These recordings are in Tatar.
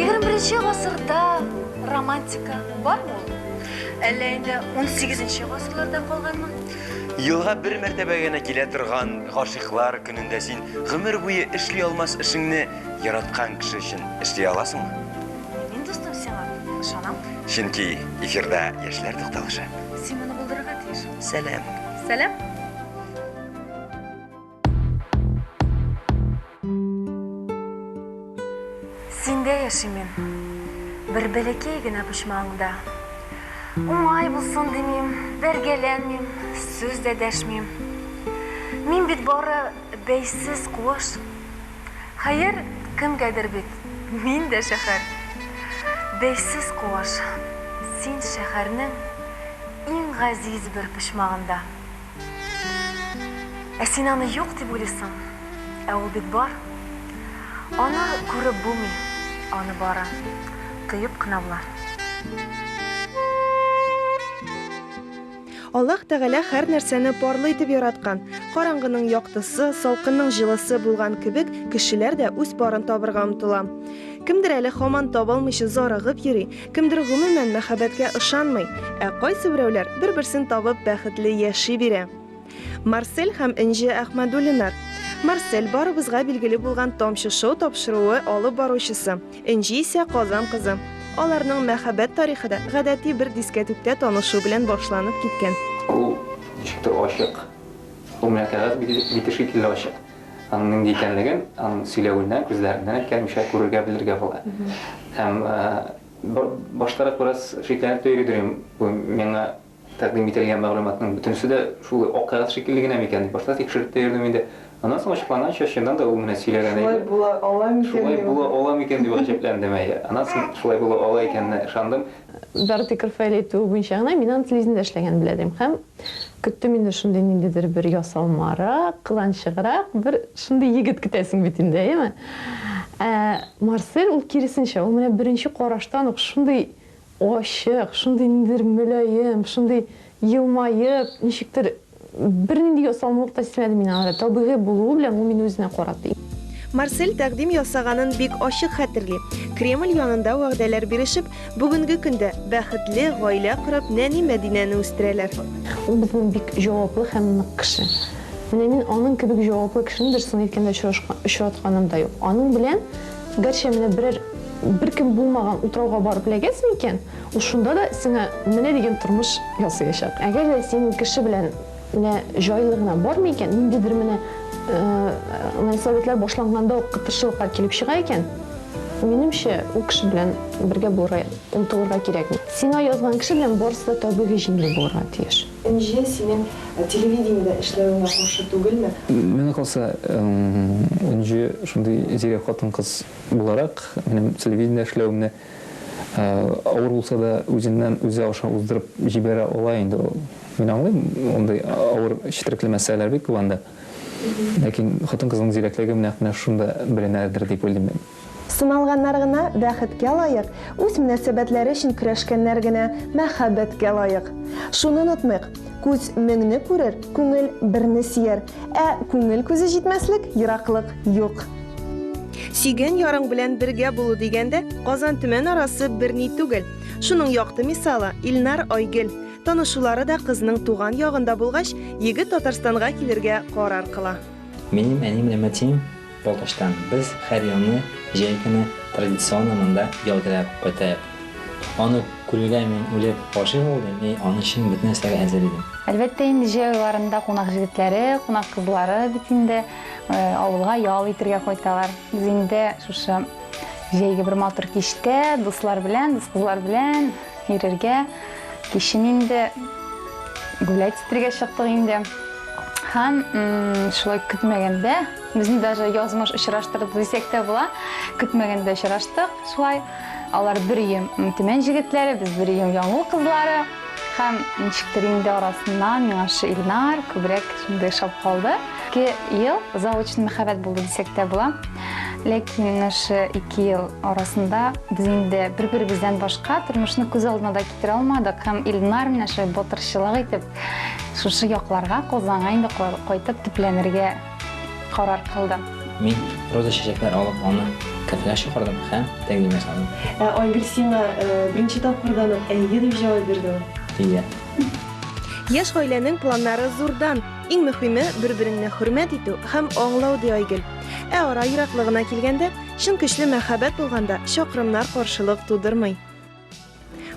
Егерменче гасырда романтика бар ул? Әллә инде 18-нче гасырларда калганмы? Елга бер мәртәбә генә килә торган гашыйклар көнендә син гомер буе эшли алмас эшеңне яраткан кеше өчен эшли аласыңмы? Мин дустым сиңа ышанам. Чөнки эфирда яшьләр тукталышы. Син моны булдырырга тиеш. Сәлам. Сәлам. Синдә яшим мин. Бер бәләкәй генә почмагыңда. Уңай булсын димим, бәргәләнмим, сүз дә дәшмим. Мин бит бары бәйсез куыш. Хәер, кемгәдер бит, мин дә шәһәр. Бәйсез куыш, син шәһәрнең иң газиз бер почмагында. Ә син аны юк дип уйлыйсың, ә ул бит бар. Аны күреп булмый, аны бары тоеп кына була. Аллаһ Тәгалә һәр нәрсәне парлы итеп яраткан. Караңгының яктысы, салкынның җылысы булган кебек, кешеләр дә үз парын табырга омтыла. Кемдер әле һаман табалмыйча зарыгып йөри, Кемдер гомумән мәхәббәткә ышанмый, ә кайсы берәүләр бер-берсен табып бәхетле яши бирә. Марсель һәм Энҗе Әхмәдуллинар. Марсель, барыбызга билгеле булган Тамчы шоу тапшыруы алып баручысы, Энҗе исә Казан кызы. Аларның мәхәббәт тарихы да гадәти бер дискәтүктә танышу белән башланып киткән. Ул ничектер ачык. Ул миңа кәгазь бите шикелле ачык. Аның нинди икәнлеген аның сөйләвеннән, күзләреннән әйткәнемчә күрергә, белергә була. Һәм баштарак бераз шикләнеп тә йөридем, бу миңа тәкъдим ителгән мәгълүматның бөтенесе дә шул акъярат шикелле генә микән дип башта тикшереп тә йөрдем инде. Аннан соң ачыкланганча, чыннан да ул менә сөйләгән иде. Шулай була ала микән? Шулай була ала микән дип гаҗәпләндем, әйе. Аннан соң шулай була ала икәненә ышандым. Доротея Карфаэль әйтүе буенча гына, мин аны телевидениедә эшләгәнен белә идем һәм көттем инде шундый ниндидер бер ясалмарак, кыланчыграк бер шундый егет көтәсең бит инде, әйеме? Ә Марсель ул киресенчә, ул менә беренче караштан ук шундый ачык, шундый ниндидер мөлаем, шундый елмаеп, ничектер Бернинди ясалмалык та сизмәдем мин анда, табигый булуы белән ул мине үзенә каратты. Марсель тәкъдим ясаганын бик ачык хәтерли. Кремль янында вәгъдәләр бирешеп, бүгенге көндә бәхетле гаилә корып, нәни Мәдинәне үстерәләр. Ул безнең бик җаваплы һәм нык кеше. Менә мин аның кебек җаваплы кешене, дөресен әйткәндә, очрашкан, очратканым да юк. Аның белән, гәрчә менә берәр, беркем булмаган утрауга барып эләгәсең икән, Ул шунда да сиңа менә дигән тормыш ясыячак. Әгәр дә синең кеше белән менә җайлы гына бармый икән, ниндидер менә мөнәсәбәтләр башланганда ук кытыршылыклар килеп чыга икән, минемчә, ул кеше белән бергә булырга омтылырга кирәкми. Сиңа язган кеше белән барысы да табигый җиңел булырга тиеш. Энҗе, синең телевидениедә эшләвеңә каршы түгелме? Миңа калса, Энҗе шундый зирәк хатын-кыз буларак, минем телевидениедә эшләвемне Авыр булса да, үзеннән үзе аша уздырып җибәрә ала инде ул. Мин аңлыйм, мондый авыр четерекле мәсьәләләр бик күп анда. Ләкин хатын-кызның зирәклеге нәкъ менә шунда беленердер дип уйлыйм мин. Сыналганнар гына бәхеткә лаек, үз мөнәсәбәтләре өчен көрәшкәннәр генә мәхәббәткә лаек. Шуны онытмыйк, күз меңне күрер, күңел берне сөяр. Ә күңел күзе җитмәслек, ераклык юк. Сөйгән ярың белән бергә булу дигәндә, Казан-Төмән арасы берни түгел. Шуның якты мисалы, Илнар, Айгөл. Танышулары да кызның туган ягында булгач, егет Татарстанга килергә карар кыла. Минем әни белән әтием Балтачтан без һәр елны җәй көне традиционно монда ял теләп кайтаек. Аны күрергә мин үлеп гашыйк булдым и аны өчен бөтен нәрсәгә әзер идем. Әлбәттә инде җәй айларында кунак җегетләре, кунак кызлары бит инде авылга ял итергә кайталар. Без инде шушы җәйге бер матур кичтә дуслар белән, дус кызлар белән йөрергә, кичен инде гулять итергә чыктык инде. Һәм шулай көтмәгәндә. Безне даже язмыш очраштырды дисәк тә була. Көтмәгәндә очраштык шулай. Алар бер өем Төмән җегетләре, без бер өем Яңгул кызлары. Һәм ничектер инде арасыннан миңа шушы Илнар күбрәк шундый ошап калды. Ике ел заочный мәхәббәт булды дисәк тә була. Ләкин менә шушы ике ел арасында без инде бер-беребездән башка тормышны күз алдына да китерә алмадык. Һәм Илнар менә шулай батырчылык итеп шушы якларга, Казанга инде кайтып төпләнергә Карар кылдым. Мин роза чәчәкләр алып аны кафега чакырдым һәм тәкъдим ясадым. Ә Айгөл сиңа э, беренче тапкырдан ук әйе дип җавап бирде. Әйе. Яшь гаиләнең планнары зурдан. Иң мөхиме, бер-береңне хөрмәт итү һәм аңлау, ди Айгөл. Ә ара ераклыгына килгәндә, чын көчле мәхәббәт булганда, чакрымнар каршылык тудырмый.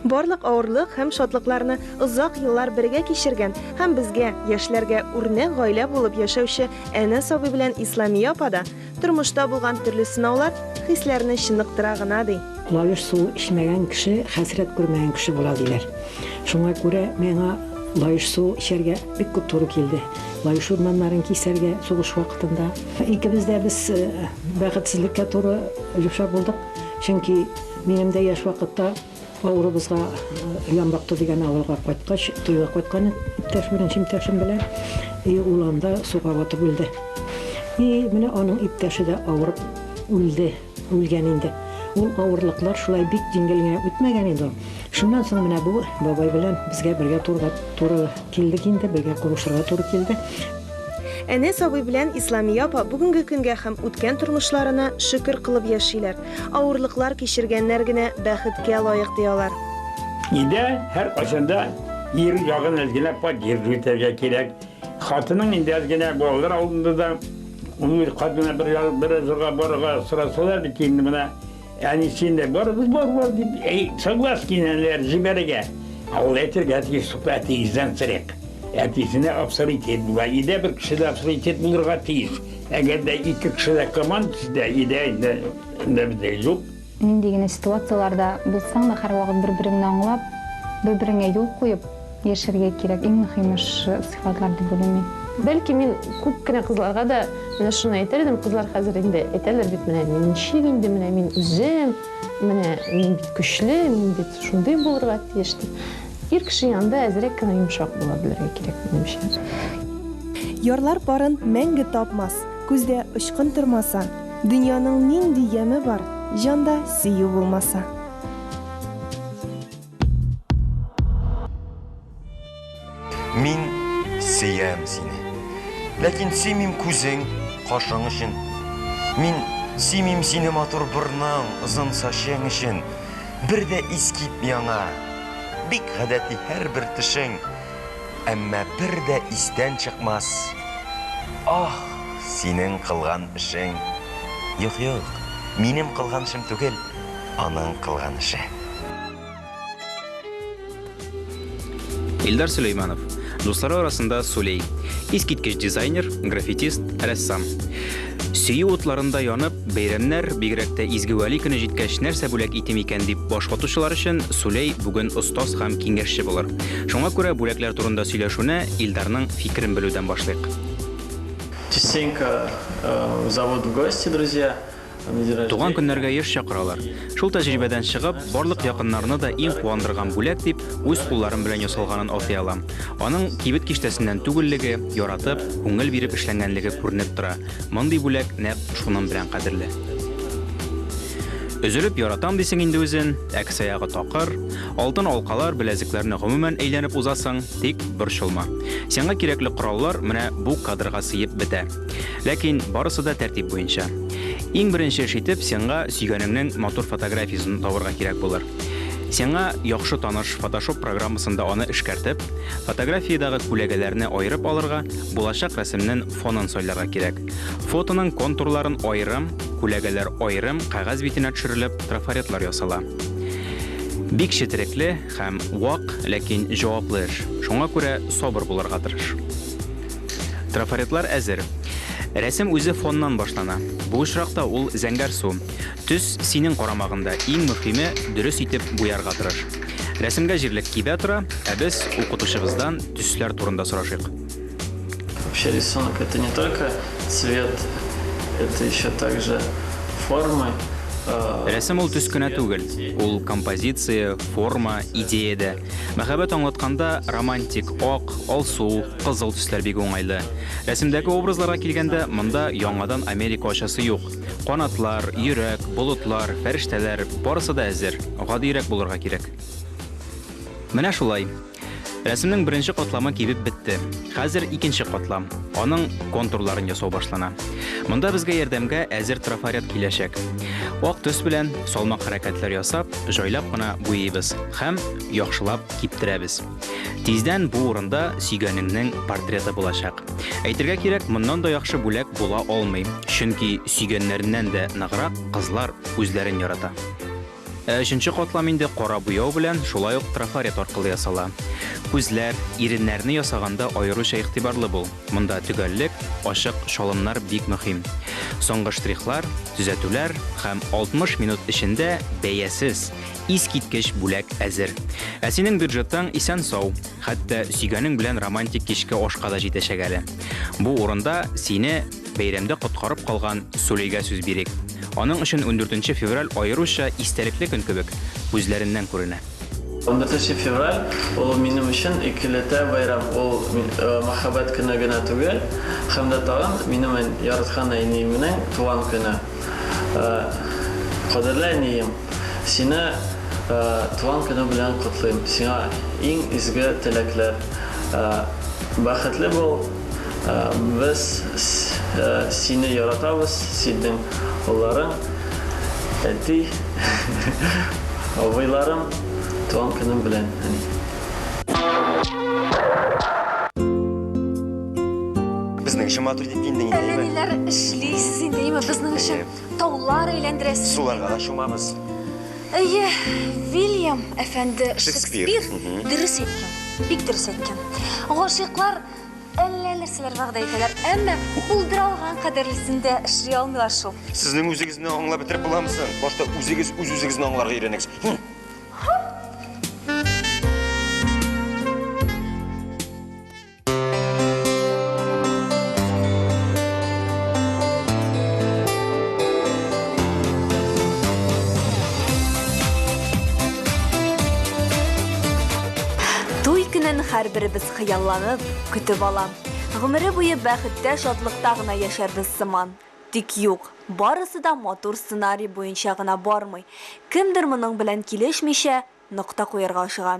Барлык авырлык һәм шатлыкларны озак еллар бергә кичергән һәм безгә, яшьләргә үрнәк гаилә булып яшәүче Әнәс абый белән Исламия апа да тормышта булган төрле сынаулар хисләрне чыныктыра гына, ди. Лаеш су эчмәгән кеше хәсрәт күрмәгән кеше була, диләр. Шуңа күрә миңа лаеш су эчәргә бик күп туры килде. Лаеш урманнарын кисәргә сугыш вакытында икебез дә без бәхетсезлеккә туры дучар булдык, чөнки, Минем дә яшь вакытта авырыбызга Ямбакты дигән авылга кайткач, туйга кайткан иптәш, беренче иптәшем белән. И ул анда суга батып үлде. И менә аның иптәше дә авырып үлде, үлгән инде. Ул авырлыклар шулай бик җиңел генә үтмәгән инде ул. Шуннан соң менә бу бабай белән безгә бергә торырга туры килдек инде, бергә кавышырга туры килде. Әнәс абый белән Исламия апа бүгенге көнгә һәм үткән тормышларына шөкер кылып яшиләр. Авырлыклар кичергәннәр генә бәхеткә лаек, ди алар. Өйдә һәркайчан да ир ягын әз генә поддерживать итәргә кирәк. Хатының инде әз генә балалар алдында да ул үз хатына бер ял, бер җырга барырга сорасалар бит инде менә әнисен дә барыбыз бар бар дип әй, соглас кинәләр җибәрергә. Ә ул әйтергә тиеш шул әтиегездән срек. Әтисенә авторитет була. Өйдә бер кеше дә авторитет булырга тиеш. Әгәр дә ике кеше дә команда сидә, идә инде инде бездә юк. Нинди генә ситуацияләрдә булсаң да, һәрвакыт бер-береңне аңлап, бер-береңә юл куеп яшәргә кирәк. Иң мөһиме шы сыйфатлар дип уйлыйм мин. Бәлки мин күп кенә кызларга да менә шуны әйтер идем, кызлар хәзер инде әйтәләр бит, менә мин ничек инде, менә мин үзем, менә мин бит көчле, мин бит шундый булырга тиеш дип. Ир кеше янында әзрәк кенә йомшак була белергә кирәк, минемчә. Ярлар парын мәңге тапмас, Күздә очкын тормаса, Дөньяның нинди яме бар, Җанда сөю булмаса. Мин сөям сине. Ләкин сөймим күзең, кашың өчен. Мин сөймим сине матур борның, озын сачың өчен. Бер дә искит яңа. Бик гадәти һәрбер төшең. Әмма бер дә истән чыкмас. Ах, синең кылган эшең. Юк, юк, минем кылган эшем түгел, аның кылган эше. Илдар Сөләйманов. Дуслары арасында Сулей. Искиткеч дизайнер, граффитист, рәссам. Сөю утларында янып, бәйрәмнәр, бигрәк тә Изге Вәли көне җиткәч, нәрсә бүләк итим икән дип баш ватучылар өчен Сулей бүген остаз һәм киңәшче булыр. Шуңа күрә бүләкләр турында сөйләшүне Илдарның фикерен белүдән башлыйк. Частенько э, в завод в гости, друзья. Туган көннәргә еш чакыралар. Шул тәҗрибәдән чыгып, барлык якыннарны да иң куандырган бүләк дип, үз кулларым белән ясалганын атый алам. Аның кибет киштәсеннән түгеллеге, яратып, күңел биреп эшләнгәнлеге күренеп тора. Мондый бүләк нәкъ шуның белән кадерле. Өзелеп яратам дисең инде үзен, ә кесәягы такыр. Алтын алкалар, беләзекләрне гомумән әйләнеп узасың, тик борчылма. Сиңа кирәкле кораллар менә бу кадрга сыеп бетә. Ләкин барысы да тәртип буенча. Иң беренче эш итеп сиңа сөйгәнеңнең матур фотографиясен табырга кирәк булыр. Сиңа яхшы таныш Photoshop программасында аны эшкәртеп, фотографиядәге күләгәләрне аерып алырга, булачак рәсемнең фонын сайларга кирәк. Фотоның контурларын аерым, күләгәләр аерым кәгазь битенә төшерелеп, трафаретлар ясала. Бик четерекле һәм вак, ләкин җаваплы эш. Шуңа күрә сабыр булырга тырыш. Трафаретлар әзер. Рәсем үзе фоннан башлана. Бу очракта ул зәңгәр су. Төс синең карамагында. Иң мөхиме, дөрес итеп буярга тырыш. Рәсемгә җирлек кибә тора, ә без укытучыбыздан төсләр турында сорашыйк. Вообще рисунок это не только цвет, это еще также формы. Рәсем ул төс кенә түгел, ул композиция, форма, идея дә. Мәхәббәт аңлатканда романтик, ак, алсу, кызыл төсләр бик уңайлы. Рәсемдәге образларга килгәндә, монда яңадан Америка ачасы юк. Канатлар, йөрәк, болытлар, фәрештәләр, барысы да әзер, гадиерәк булырга кирәк. Менә шулай. Рәсемнең беренче катламы кибеп бетте. Хәзер икенче катла. Аның контурларын ясау башлана. Монда безгә ярдәмгә әзер трафарет киләчәк. Ак төс белән салмак хәрәкәтләр ясап, җайлап кына буйыйбыз һәм яхшылап киптерәбез. Тиздән бу урында сөйгәнеңнең портреты булачак. Әйтергә кирәк, моннан да яхшы бүләк була алмый, чөнки сөйгәннәреннән дә ныграк кызлар үзләрен ярата. Ә өченче катлам инде кара буяу белән, шулай ук трафарет аркылы ясала. Күзләр, иреннәрне ясаганда аеруча игътибарлы бул. Монда төгәллек, ачык чалымнар бик мөһим. Соңгы штрихлар, төзәтүләр һәм 60 минут эчендә бәясез, искиткеч бүләк әзер. Ә синең бюджетың исән-сау, хәтта сөйгәнең белән романтик кичке ашка да җитәчәк әле. Бу урында сине Бәйрәмдә коткарып калган Сулейгә сүз бирик. Аның өчен ундүртенче февраль аеруча истәлекле көн кебек, күзләреннән күренә. Ундүртенче февраль, ул минем өчен икеләтә бәйрәм, ул Мәхәббәт көне генә түгел, һәм дә тагын минем яраткан әниемнең туган көне. Кадерле әнием, сине туган көне белән котлыйм, сиңа иң изге теләкләр, бәхетле бул, Без сине яратабыз, синең улларың, әти, абыйларым, туган көнең белән, әни. Безнең өчен матур дип киендең инде, әйеме? Әнә ниләр эшлисез инде, әйеме, безнең өчен. Таулар әйләндерә сезне. Суларга да чумабыз. Әйе, Вильям әфәнде Шекспир. Шекспир Мгм. дөрес әйткән. Бик дөрес әйткән. Гашыйклар әллә нәрсәләр вәгъдә итәләр, әмма булдыра алган кадәрлесен дә эшли алмыйлар шул. Сезнең үзегезне аңлап бетереп буламы соң? Башта үзегез үз-үзегезне аңларга өйрәнегез. Хм. Туй көнен һәрберебез хыялланып, көтеп ала. Гомере буе бәхеттә, шатлыкта гына яшәрбез сыман. Тик юк, барысы да матур сценарий буенча гына бармый. Кемдер моның белән килешмичә, нокта куярга ашыга.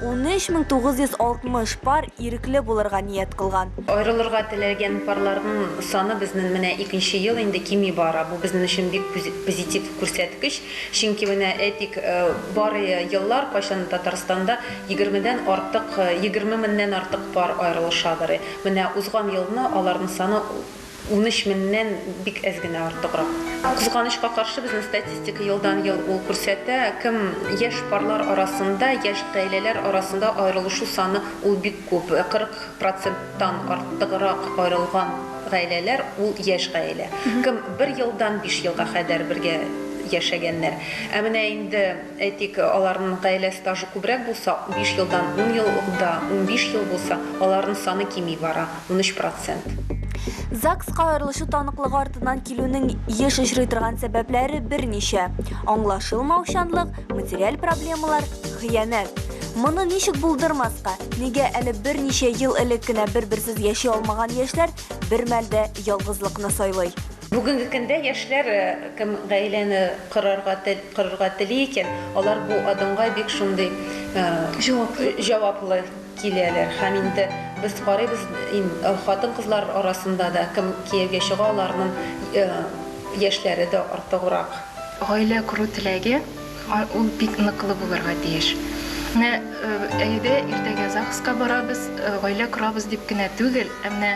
13960 пар ирекле булырга ният кылган. Аерылырга теләгән парларның саны безнен менә икенче ел инде кими бара. Бу безнен өчен бик позитив күрсәткеч, чөнки менә әйтик, бар еллар кайчан Татарстанда егермедән артык, егерме меннән артык пар аерылышадыр. Менә узган елны аларның саны Унөч меннән бик әз генә артыграк. Кызганычка каршы, безнең статистика елдан-ел ул күрсәтә. Кем яшь парлар арасында, яшь гаиләләр арасында аерылышу саны ул бик күп. 40 проценттан артыграк аерылган гаиләләр ул яшь гаилә. Кем бер елдан биш елга кадәр бергә яшәгәннәр. Ә менә инде, әйтик, аларның гаилә стажы күбрәк булса, биш елдан ун ел да, унбиш ел булса, аларның саны кими бара. Унөч процент. ЗАГСка аерылышу таныклыгы артыннан килүнең еш очрый торган сәбәпләре берничә, аңлашылмаучанлык, материаль проблемалар, хыянәт. Моны ничек булдырмаска, нигә әле берничә ел элек кенә бер-берсез яши алмаган яшьләр бермәл дә ялгызлыкны сайлый? Бүгенге көндә яшьләр, кем гаиләне корарга корырга тели икән, алар бу адымга бик шундый җаваплы. Киләләр һәм инде без карыйбыз ин хатын-кызлар арасында да кем кияүгә чыга аларның яшьләре дә артыграк. Гаилә кору теләге ул бик ныклы булырга тиеш. Менә әйдә иртәгә ЗАГСка барабыз, гаилә корабыз дип кенә түгел, ә менә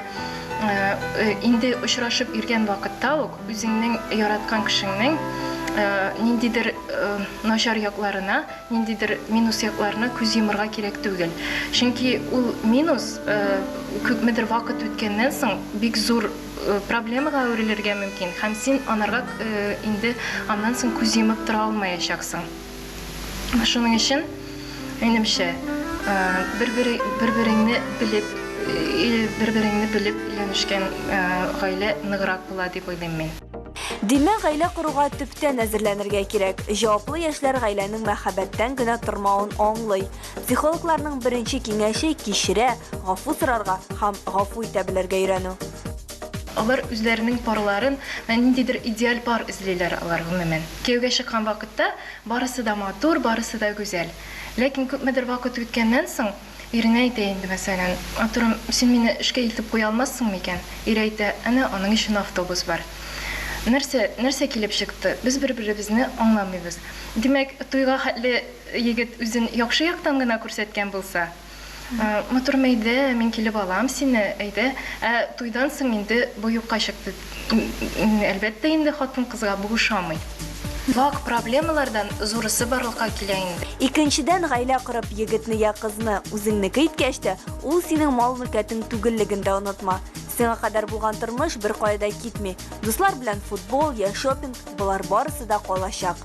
инде очрашып йөргән вакытта ук үзеңнең яраткан кешеңнең ниндидер начар якларына, Ниндидер минус якларына күз йомырга кирәк түгел. Чөнки ул минус күпмедер вакыт үткәннән соң бик зур проблемага әверелергә мөмкин һәм син анарга инде аннан соң күз йомып тора алмаячаксың. Шуның өчен, минемчә, бер-береңне белеп, бер-береңне белеп өйләнешкән гаилә ныграк була дип уйлыйм мин. Димәк, гаилә коруга төптән әзерләнергә кирәк. Җаваплы яшьләр гаиләнең мәхәббәттән генә тормавын аңлый. Психологларның беренче киңәше кичерә, гафу сорарга һәм гафу итә белергә өйрәнү. Алар үзләренең парларын, менә ниндидер идеаль пар эзлиләр алар, гомумән. Кияүгә чыккан вакытта барысы да матур, барысы да гүзәл. Ләкин күпмедер вакыт үткәннән соң, Иренә әйтә инде, мәсәлән, Артурым, син мине эшкә илтеп куя алмассыңмы икән? Ире әйтә, Әнә, аның өчен автобус бар. Нәрсә, нәрсә килеп чыкты? Без бер-беребезне аңламыйбыз. Димәк, туйга хәтле егет үзен яхшы яктан гына күрсәткән булса? Матурым, әйдә, мин килеп алам сине, әйдә. Ә туйдан соң инде бу юкка чыкты. Әлбәттә инде хатын-кызга бу ошамый. Вак проблемалардан зурысы барлыкка килә инде. Икенчедән, гаилә корып, егетне йә кызны үзеңнеке иткәч тә, ул синең мал-мөлкәтең түгеллеген дә онытма. Сиңа кадәр булган тормыш беркая да китми. Дуслар белән футбол йә шопинг, болар барысы да калачак.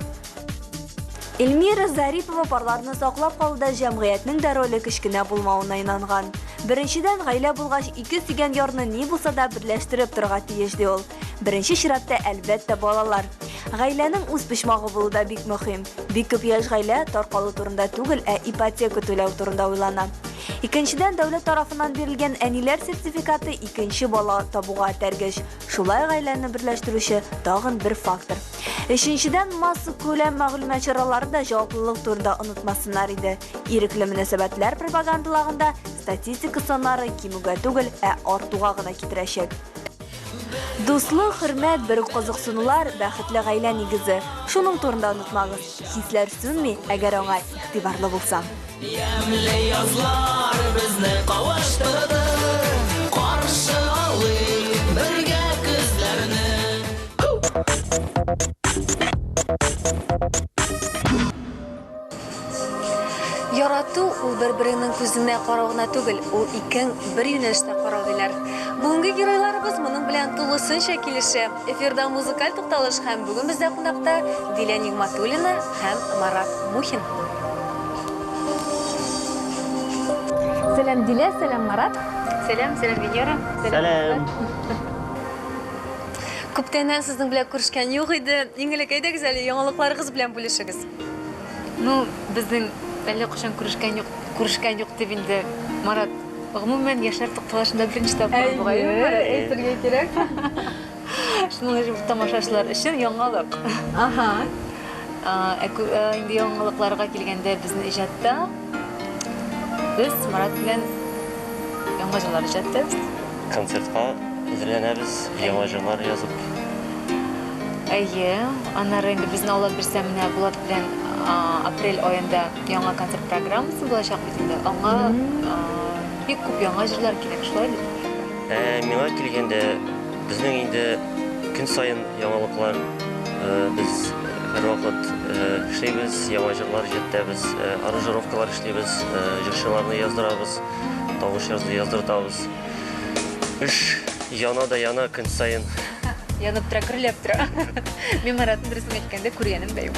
Эльмира Зарипова парларны саклап калуда җәмгыятьнең дә роле кечкенә булмавына инанган. Беренчедән, гаилә булгач, ике сөйгән ярны ни булса да берләштереп торырга тиеш, ди ул. Беренче чиратта, әлбәттә, балалар. Гаиләнең үз почмагы булу да бик мөһим. Бик күп яшь гаилә таркалу турында түгел, ә ипотека түләү турында уйлана. Икенчедән, дәүләт тарафыннан бирелгән әниләр сертификаты икенче бала табуга этәргеч. Шулай гаиләне берләштерүче тагын бер фактор. Өченчедән, массакүләм мәгълүмат чаралары да җаваплылык турында онытмасыннар иде. Ирекле мөнәсәбәтләр пропагандаланганда статистика саннары кимүгә түгел, ә артуга гына китерәчәк. Дуслык, хөрмәт, берүк кызыксынулар, бәхетле гаилә нигезе. Шуның турында онытмагыз. Хисләр сүнми, әгәр аңа игътибарлы булсаң. Ямьле язлар безне кавыштырды, каршы алыйк бергә көзләрне. Ярату ул бер-береңнең күзеңә карау гына түгел, ул икең бер юнәлештә карау, диләр. Бүгенге геройларыбыз моның белән тулысынча килешә. Эфирда музыкаль тукталыш һәм бүген бездә кунакта Дилә Нигъматуллина һәм Марат Мухин. Сәлам Дилә, сәлам Марат. Сәлам, сәлам Венера. Сәлам. Күптәннән сезнең белән күрешкән юк иде. Иң элек әйдәгез әле яңалыкларыгыз белән бүлешегез. Ну, безнең әллә кайчан күрешкән юк, күрешкән юк дип инде Марат Гомумән, яшьләр тукталышында беренче тапкыр бугай. Әйе, әйтергә кирәк. Шуның өчен тамашачылар өчен яңалык. Ага. Инде яңалыкларга килгәндә безнең иҗатта без Марат белән яңа җырлар иҗаттыбыз. Концертка әзерләнәбез, яңа җырлар язып. Әйе, аннары инде безне алып бирсә менә Булат белән апрель аенда яңа концерт программасы булачак. Инде аңа бик күп яңа җирләр кирәк, шулай бит? Ә миңа килгәндә, безнең инде көн саен яңалыклар, без һәрвакыт эшлибез, яңа җырлар җыртәбез, аранжировкалар эшлибез, җырчыларны яздырабыз, тавыш яздыртабыз. Эш яна да яна көн саен. Янып тора, гөрләп тора. Мин Маратны, дөресен әйткәндә, күргәнем дә юк.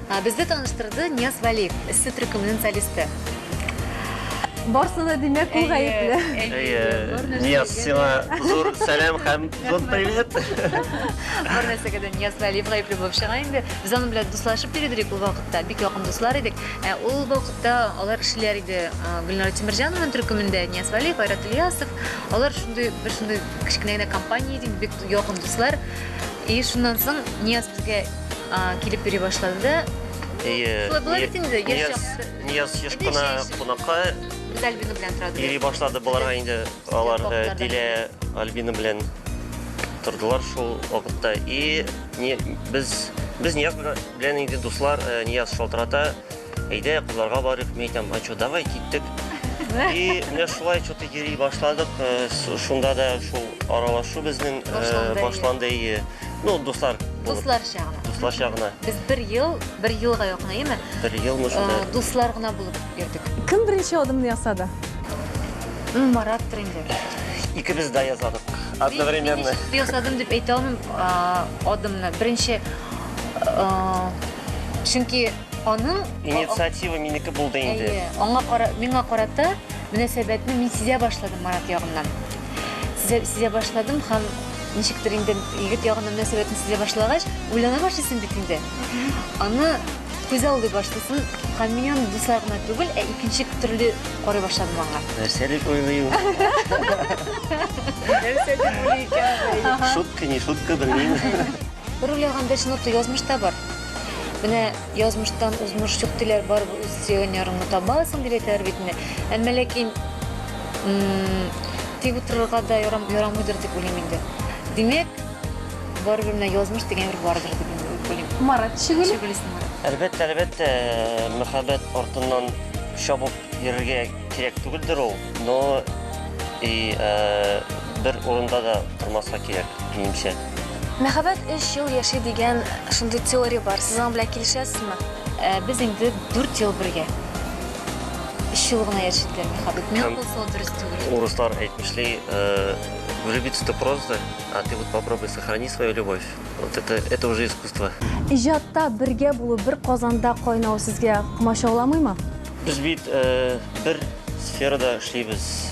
Безне таныштырды Нияз Вәлиев, эссе төркеменең солисты. Барсы да димәк ул гаепле. Әйе, Нияз, сиңа зур сәлам һәм зур привет. Бар нәрсәгә дә Нияз Вәлиев гаепле булып чыга инде. Без аның белән дуслашып йөридек ул вакытта, бик якын дуслар идек. Ә ул вакытта алар эшләр иде Гөлнара Тимерҗанованың төркемендә, Нияз Вәлиев, Айрат Ильясов. Алар шундый бер шундый кечкенә генә компания иде, бик якын дуслар. И шуннан соң Нияз безгә а, килеп йөри башлады. Ие. Шулай була бит инде, яшь Нияз, чакта. Нияз еш Әйдә, кына җәй- кунакка Без Альбина белән торады. йөри башлады. Боларга инде алар э, Баклардан. Дилә Альбина белән тордылар шул вакытта. И не- без без Нияз белән инде дуслар, э, Нияз шалтырата. Әйдә, кызларга барыйк, мин әйтәм, а что, давай киттек. И менә шулай что-то йөри башладык. Э, с- Шунда да шул аралашу безнең э, Башланды. башланды. и, Ну, дуслар булып, Дусларча гына. дусларча гына. Без бер ел, бер елга якын, әйеме? Бер елмы шунда. Э, Дуслар гына булып йөрдек. Кем беренче адымны ясады? М, Марат инде. Икебез дә язадык. Мин- Одновременно. мин ничек ясадым дип әйтә алмыйм а, адымны. Беренче, а, чөнки Аның инициатива минеке булды инде. Әйе, аңа кара, миңа карата мөнәсәбәтне мин сизә башладым Марат ягыннан. Сизә, сизә башладым һәм ничектер инде егет ягына мөнәсәбәтен сизә башлагач, уйлана башлыйсың бит инде. Аны күз алды башлыйсың һәм мин аны дуслар гына түгел, ә икенче төрле карый башладым аңа. Нәрсә дип уйлыйм? Нәрсә дип уйлый икән? Шутка, не шутка, белмим. Бер уйлаганда чынлап та язмышта бар. Менә язмыштан узмыш юк диләр, бар үз сөйгән ярыңны табасың дип әйтәләр бит инде. Әмма ләкин тик утырырга да ярам, ярамыйдыр дип уйлыйм инде. Димәк, барыбер менә язмыш дигән бер бардыр дип инде уйлыйм. Марат Шигуль. Шигуль исеме. Әлбәттә, әлбәттә, мәхәббәт артыннан чабып йөрергә Кирәк түгелдер ул, но и э, бер урында да тормаска кирәк, минемчә. Мәхәббәт 3 ел яши дигән шундый теория бар. Сез аның белән килешәсезме? Ә, Без инде 4 ел бергә. 3 ел гына яшәделәр мәхәббәт. Мин Һәм- булса ул дөрес түгел. Урыслар әйтмешли, э, влюбиться это просто, а ты вот попробуй сохрани свою любовь. Вот это, это уже искусство. Иҗатта бергә булу, бер казанда кайнау сезгә комачауламыймы? Без бит бер сферада эшлибез.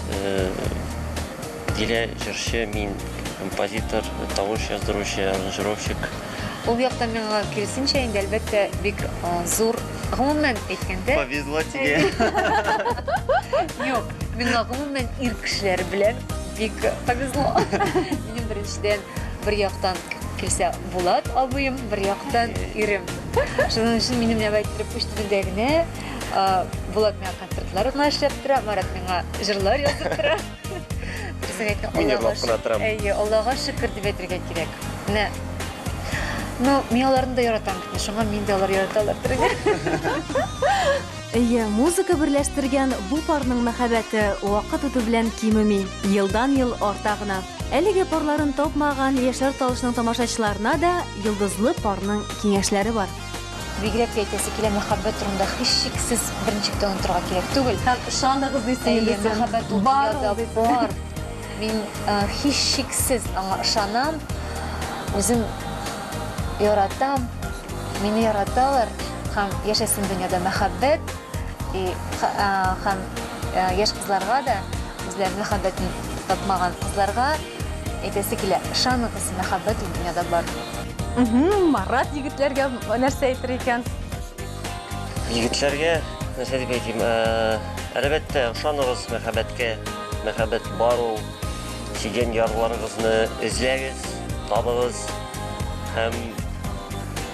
Дилә җырчы, мин композитор, тавыш яздыручы, аранжировщик. Ул яктан миңа киресенчә инде әлбәттә бик зур гомумән әйткәндә. Повезло тебе. Юк, миңа гомумән ир кешеләре белән бик повезло. Минем беренчедән бер яктан килсә Булат абыем, бер яктан ирем. Шуның өчен минем белән әйттереп үз телендә генә Булат миңа концертлар гына эшләп тора, Марат миңа җырлар язып тора. Дөресен әйтсәң, Мин җырлап кына торам. Әйе, Аллага шөкер дип әйтергә кирәк. Менә Ну, мин аларны да яратам бит, шуңа мин дә алар яраталар дөргә. Әйе, музыка берләштергән бу парның мәхәббәте вакыт үтү белән кимеми, елдан-ел арта гына. Әлеге парларын тапмаган яшьләр талышының тамашачыларына да йолдызлы парның киңәшләре бар. Бигрәк тә әйтәсе килә, мәхәббәт турында һичшиксез берничек тә онытырга кирәк түгел. Һәм ышаныгыз дисең инде. Әйе, мәхәббәт дөньяда бар. Мин һичшиксез аңа ышанам. Үзем яратам. Мине яраталар. Һәм яшәсен дөньяда мәхәббәт. И һәм яшь кызларга да, үзләренең мәхәббәтен тапмаган кызларга әйтәсе килә, ышаныгыз, мәхәббәт ул дөньяда бар. Марат егетләргә нәрсә әйтер икән? Егетләргә нәрсә дип әйтим? Әлбәттә, ышаныгыз мәхәббәткә. Мәхәббәт бар ул. Сөйгән ярларыгызны эзләгез, табыгыз һәм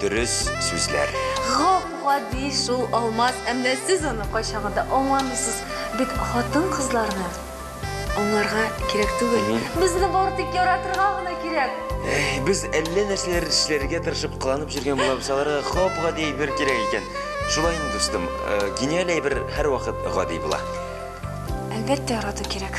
Дөрес сүзләр. Гап гади шул алмаз, әмма сез аны кайчагында аңламыйсыз бит хатын-кызларны аңларга кирәк түгел. Безне бары тик яратырга гына кирәк. Без әллә нәрсәләр эшләргә тырышып кыланып җөргән булабыз, аларга гап гади әйбер кирәк икән. Шулай инде, дустым, гениаль әйбер һәрвакыт гади була. Әлбәттә ярату кирәк.